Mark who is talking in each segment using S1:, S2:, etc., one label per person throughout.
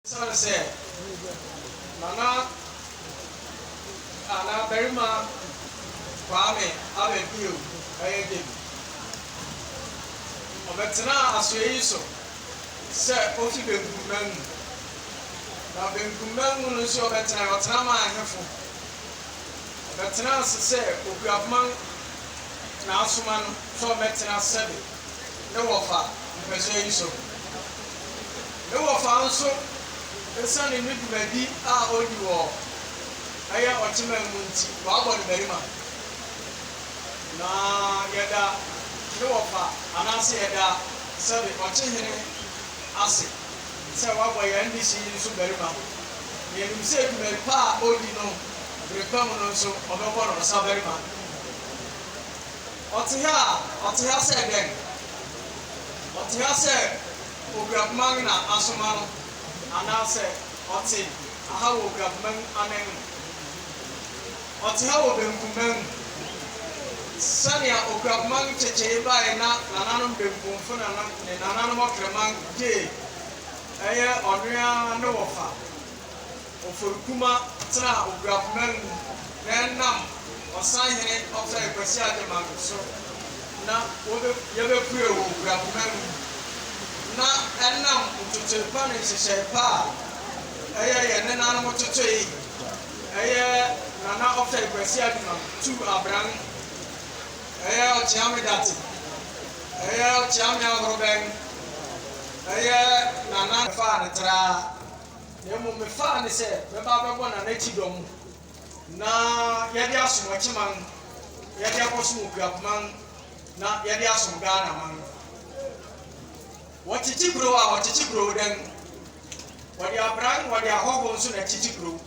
S1: Esiane sɛ na na Ghana barima Kwame Abedwew yɛ den, ɔbɛtenaa asoɛe yi so sɛ ofi benkumman mu. Na benkumman mu no nso ɔbɛtenae, ɔtena maa ahemfo. Ɔbɛtenaa ase sɛ okuafoma na asoma no sɛ ɔmmɛtena Sebe. ne wɔfa mpɛsoa yi so. Ne wɔfa nso esiane ne dwumadi a odi wɔ ɛyɛ ɔteman mu nti wɔabɔ no barima. Na yɛda ne wɔfa anaase yɛda sɛbe ɔkye hene ase sɛ wɔabɔ yɛn dehye yi nso barima. Na yɛnim sɛ dwumadi pa a odi no bere pa mu no nso wɔbɛbɔ no ɔsa barima. Ɔte ha a, ɔte ha sɛ dɛn? Ɔte ha sɛ oguabma no na asoma no, anaasɛ ɔte ha wɔ oguabma no anan mu? Ɔte ha wɔ benkumman mu. Sɛnea oguabma no kyekyee bae na nananom benkumfo ne nananom ɔkraman gyee, ɛyɛ ɔno ara ne wɔfa. Oforikuma tenaa Oguakuman mu na ɛnam Ɔsanhene Ɔtɔe Kwasi Agyemang so na wɔbe yɛbɛpue wɔ Oguakuman mu na ɛnam ntotoe pa ne nhyehyɛe pa a ɛyɛ yɛn nenanom totoe ɛyɛ Nana Ɔtɔe Kwasi Agyemang tuu abran ɛyɛ Ɔkyeame Date ɛyɛ Ɔkyeame Ahorobɛn ɛyɛ Nana ɛfaa no traa. Na mmom mefaa no sɛ mɛba abɛbɔ Nana Kyido mo na yɛde asom Ɔkyeman, yɛde akɔsom Okuapman na yɛde asom Ghanaman. Wɔkyekye kurow a, wɔkyekye kurow dɛn? Wɔde abran, wɔde ahɔho nso na ɛkyekye kurow.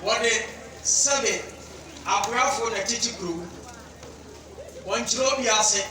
S1: Wɔde sɛbe akorafoɔ na ɛkyekye kurow. Wɔnkyerɛ obi ase,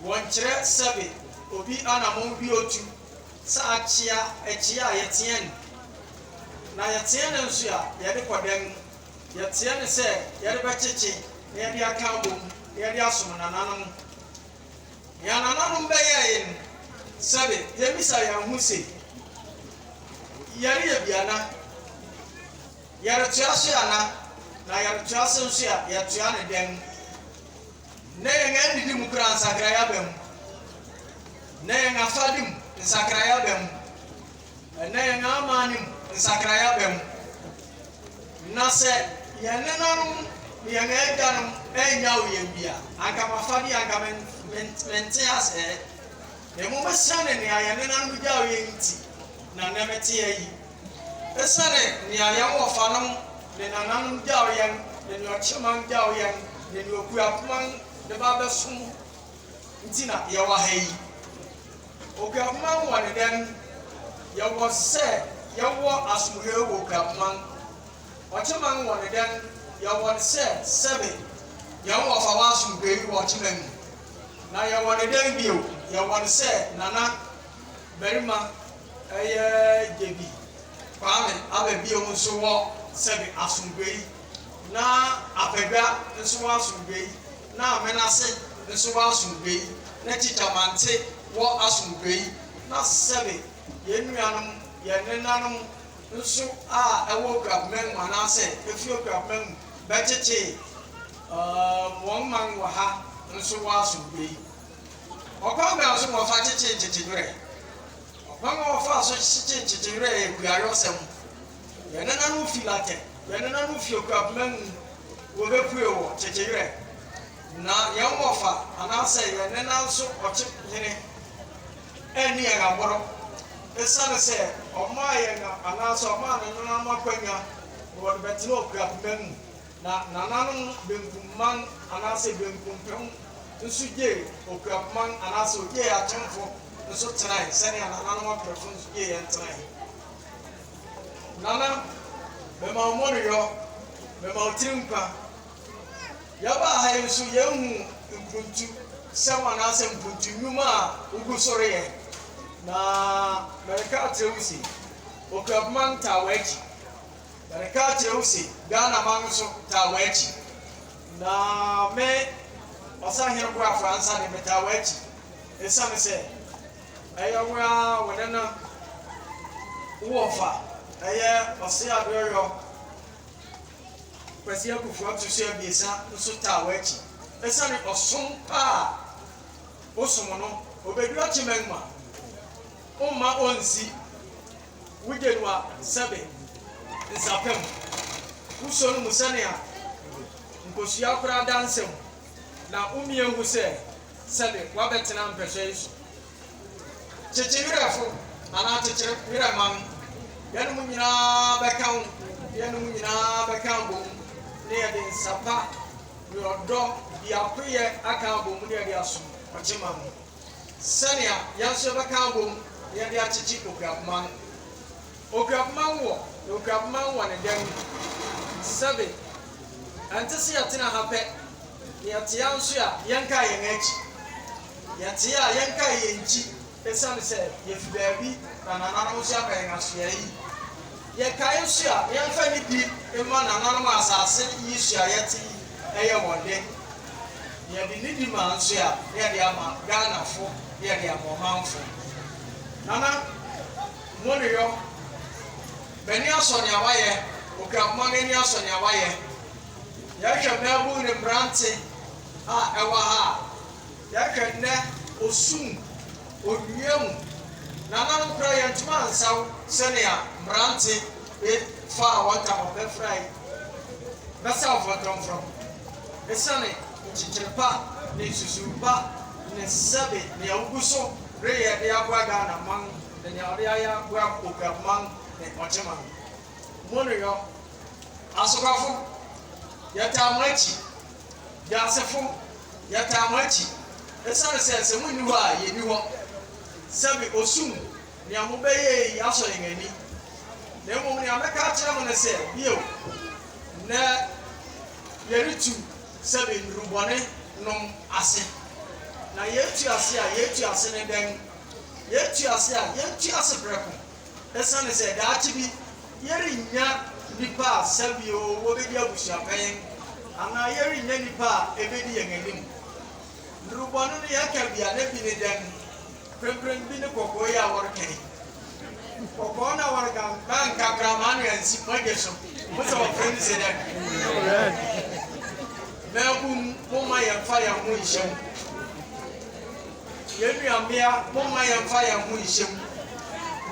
S1: wɔnkyerɛ sɛbe obi anammɔn bi otu sɛ akyea akyia a yɛteɛ no, na yɛteɛ no nso a yɛde kɔ dan mu, yɛteɛ no sɛ yɛde bɛkyekye na yɛde aka abom na yɛde asom nananom. Nea nananom bɛyɛe no, sɛbe yɛmmisa yɛn ho se, Yɛreyɛ bi ana? Yɛretoa so ana? Na yɛretoa so nso a, yɛtoa no dɛn? Nnɛ yɛn adidi mu koraa nsakrae aba mu. Nnɛ yɛn afade mu nsakrae aba mu. Nnɛ yɛn amanne mu nsakrae aba mu. Na sɛ yɛn nenanom ne yɛn agyanom annyaw yɛn bi a, anka m'afade yi anka mente aseɛ. Mmom esiane nea yɛn nenanom gyaw yɛn nti na nnɛ meteɛ yi. Esiane nea yɛn wɔfanom ne nananom gyaw yɛn, ne nea ɔkyeman gyaw yɛn, ne nea okuapoman de ba abɛsom nti na yɛwɔ ha yi. Okuapoman wɔ ne dɛn? Yɛwɔ sɛ yɛwɔ asomuhwɛw wɔ okuapoman. Ɔkyeman wɔ ne dɛn? Yɛwɔ ne sɛ sɛbe yɛn wɔfa wɔ asomdwoe wɔ ɔkyeman mu. Na yɛwɔ ne dɛn bio? Yɛwɔ ne sɛ nana barima Ɛyɛ Gyedi Kwame aba bio nso wɔ Sɛbi Asomdwoeɛ na Apadwa nso wɔ Asomdwoeɛ na Amenase nso wɔ Asomdwoeɛ na Tikya Mante wɔ Asomdwoeɛ na Sɛbi yɛn nuanom, yɛn nenanom nso a ɛwɔ Okuapman mu anaasɛ ɛfiri Okuapman mu bɛtetee wɔn man wɔ ha nso wɔ Asomdwoeɛ. Ɔkwan bɛn so na wɔfa kyekye nkyekye werɛ? Ɔkwan a wɔfa so kyekye nkyekye werɛ yɛ kuayɔsɛm. Yɛn nananom fi Latin, yɛn nananom fi okura poma mu, wobepue wɔ kyekye werɛ. Ná yɛn wɔfa anaasɛ yɛn nena nso ɔkye hene anni yɛn aboro esiane sɛ ɔmaa yɛn anaasɛ ɔmaa ne nananom akwanya ma wɔde bɛtena okura poma mu. Na nananom benkum man anaasɛ benkumpem nso gyee Okuapman anaasɛ ogyee Akyemfo nso tenae sɛnea nananom Aperefo nso gyee yɛn tenae. Nana, mema wo mmɔneyɔ, mema wo tiri nkwa. Yɛbaa ha yi nso yɛnhu mpuntu sɛm anaasɛ mpuntu nnwuma a wogu so reyɛ. Na mereka akyerɛ wo se, Okuapman taa w'akyi. Yɛde ka kyerɛ wo se Ghana man nso taa w'akyi. Na me Ɔsahene Boafo Ansah de, metaa w'akyi esiane sɛ ɛyɛ wo ara wo ne no wo wɔfa, ɛyɛ Ɔse Adeɔyɔ. Kwasi Akuffo Atusu Abiesa nso taa w'akyi esiane ɔsom pa a wosom no. Obedua Kyemangma, womma onnsi. Wogye no a, sɛbe nsa pa mu. Wosɔ no mu sɛnea nkosua koraa da nsa mu, na womia hu sɛ sɛbe wabɛtena mpɛhwɛ yi so. Kyekye werɛfo, anaa kyekyere werɛ ma no. Yɛne mo nyinaa bɛka ho, na yɛne mo nyinaa bɛka abom, na yɛde nsa pa ne ɔdɔ, biakoyɛ aka abom na yɛde asom ɔkyema no. sɛnea yɛn nso yɛbɛka abom na yɛde akyekye Okuapoma no. Okuapoma nwɔ, na Okuapoma nwɔ ne dan mu. Sɛbe, ɛnte se yɛtena ha pɛ, na yɛte a nso a yɛnkae yɛn akyi. Yɛte a yɛnkae yɛn nkyi esiane sɛ yefi baabi na nananom nso aba yɛn asoɛe yi. Yɛkae nso a, yɛmfa nidi mma nananom a asase yi so a yɛte yi yɛ wɔn de. Yɛde nidi ma nso a, na yɛde ama Ghanafo, na yɛde ama ɔmanfo. Nana Moneyɔ, m'ani asɔ nea woayɛ. Okuapoma no ani asɔ nea woayɛ. Yɛhwɛ mmaabun ne mmerante a ɛwɔ ha a, Yɛhwɛ nnɛ, osum, onnua mu. Nananom koraa yɛntumi ansaw sɛnea mmerante bi faa wɔn ntama bɛfurae bɛsaw fɔntɔmfrɔm. Esiane nkyekyere pa ne nsusuwii pa ne sɛbe nea wogu so reyɛ de aboa Ghana man ne nea wɔde ayɛ aboa Boguab man ne Ɔkye man mu no yɔ, asokafo, yɛtaa mo akyi. Wiasefo, yɛtaa mo akyi esiane sɛ sɛ munni hɔ a yenni hɔ. Sɛbe osum nea mobɛyɛe yi asɔ yɛn ani. Na mmom nea mɛka akyerɛ mo ne sɛ, bio, nnɛ yɛretu sɛbe nnuru bɔne nom ase. Na yɛretu ase a yɛretu ase ne dɛn? Yɛretu ase a yɛretu ase prɛko. Esiane sɛ daakye bi yɛrennya nnipa a sɛbio wobedi abusuapɛn anaa yɛrennya nnipa a ebedi yɛn anim. Nnurubɔ no ne yɛn ka bi a na bi ne dɛn? Mprempren bi ne kɔkɔɔ yi a wɔreka yi. Kɔkɔɔ no a wɔreka no, na anka akraman na ansi mo agya so. Mo sɛ wɔfrɛ no se dɛn? Mmabun, momma yɛmfa yɛn ho nhyɛ mu. Yɛn nua mmea momma yɛmfa yɛn ho nhyɛ mu.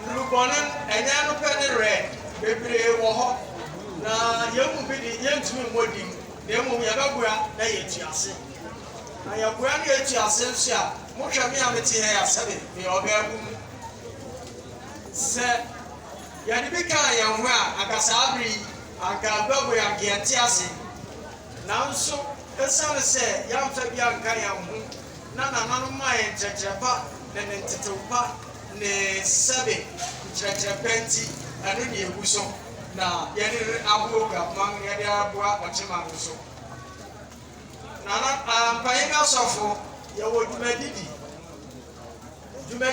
S1: Nnurubɔne no, ɛnyɛ ɛno pɛ ne rare, bebree wɔ hɔ, na yɛn mu bi de, yɛrentumi mmɔ din, na mmom yɛbɛboa na yɛatu ase. Na yɛboa na yɛatu ase nso a, mohwɛ me a mete ha yi a sɛbe meyɛ ɔbaabun no, sɛ yɛde bi kaa yɛn ho a, anka saa bere yi, anka aguabɔ yi, anka yɛnte ase. Nanso esiane sɛ yɛamfa bi anka yɛn ho, na nananom mae nkyerɛkyerɛ pa ne ne ntetew pa ne sɛbe nkyerɛkyerɛ pa nti, ɛno ne yegu so na yɛde re ahow Gapman yɛde reboa ɔkyema no nso. Nana, ah, mpanyin asɔfo, yɛwɔ dwumadi di. Dwumadi.